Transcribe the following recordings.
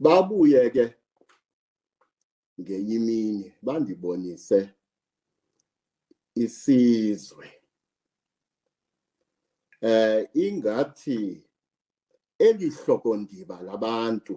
babuye ke ngenye imini bandibonise isizwe eh ingathi elihlokondiba labantu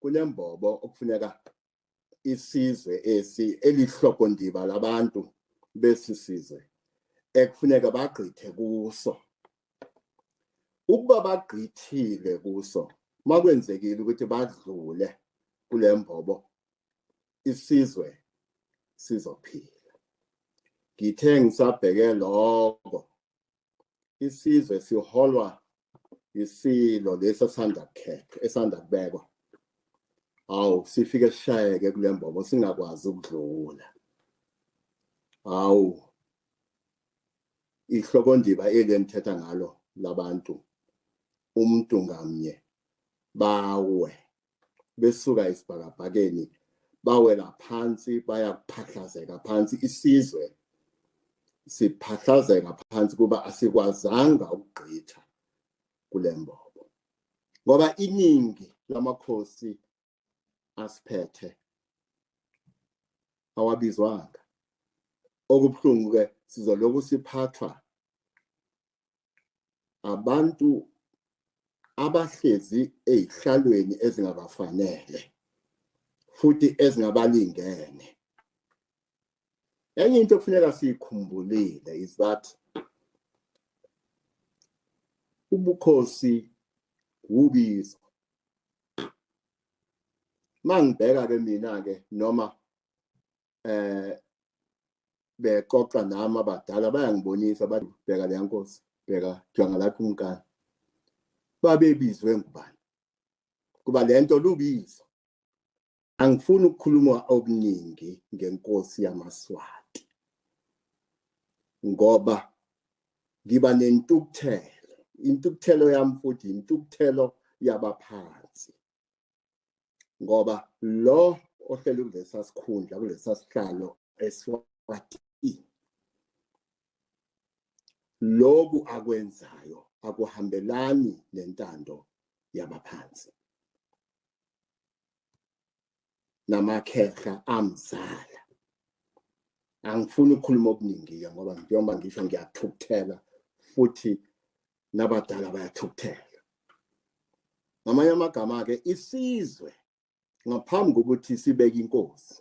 kunembobo okufuneka isizwe esi elihlokondiba labantu besi sizwe ekufuneka bagqithe kuso ukuba bagqithile kuso makwenzekile ukuthi badlule kule mbobo isizwe sizophila ngithe ngisabheke lokho isizwe siholwa isilo lesi esanda kukhethwa esanda kubekwa awu sifike sishayeke kule mbobo singakwazi ukudlula awu ihlokondiba eli enithetha ngalo labantu umuntu ngamnye bawe besuka esibhakabhakeni bawela phansi bayakuphahlazeka phansi isizwe siphahlazeka phansi kuba asikwazanga ukugqitha kule mbobo ngoba iningi lamakhosi asiphethe awabizwanga okubuhlungu-ke sizolokhu siphathwa abantu abahlezi ezihlalweni ezingabafanele futhi ezingabalingene enye into okufuneka siyikhumbulile is that ubukhosi wubizo mangibheka ke mina ke noma eh bexoxa nami abadala bayangibonisa bathi bheka leya nkosi bheka jonga lakho umkani babebizwe ngubani kuba le nto lubizo angifuni ukukhuluma okuningi ngenkosi yamaswati ngoba ngiba nentukuthelo intukuthelo yami futhi intukuthelo yabaphansi ngoba lo ohlele kulesa sikhundla kulesa sihlalo eswati loku akwenzayo akuhambelani nentando yabaphansi namakhehla amzala angifuni ukukhuluma okuningi-ke ngoba njengoba ngisho ngiyathukuthela futhi nabadala bayathukuthela ngamanye amagama-ke isizwe ngaphambi kokuthi sibeke inkosi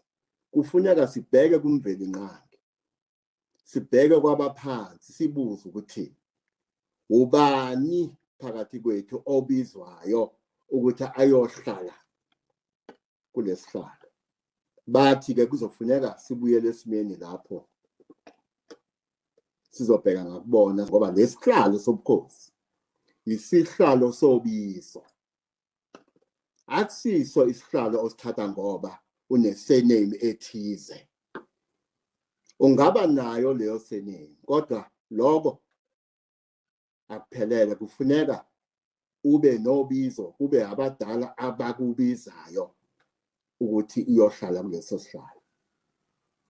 kufuneka sibheke kumveli nqangi sibheke kwabaphansi sibuze ukuthi ubani phakathi kwethu obizwayo ukuthi ayohlala kulesihlalo bathi ke kuzofuneka sibuyele esimeni lapho sizobheka ngakubona ngoba lesihlalo sobukhosi isihlalo sobizo akusiso isihlalo osithatha ngoba unesename ethize ungaba nayo leyo sename kodwa lokho akuphelele kufuneka ube nobizo kube abadala abakubizayo ukuthi iyohlala kuleso sihlalo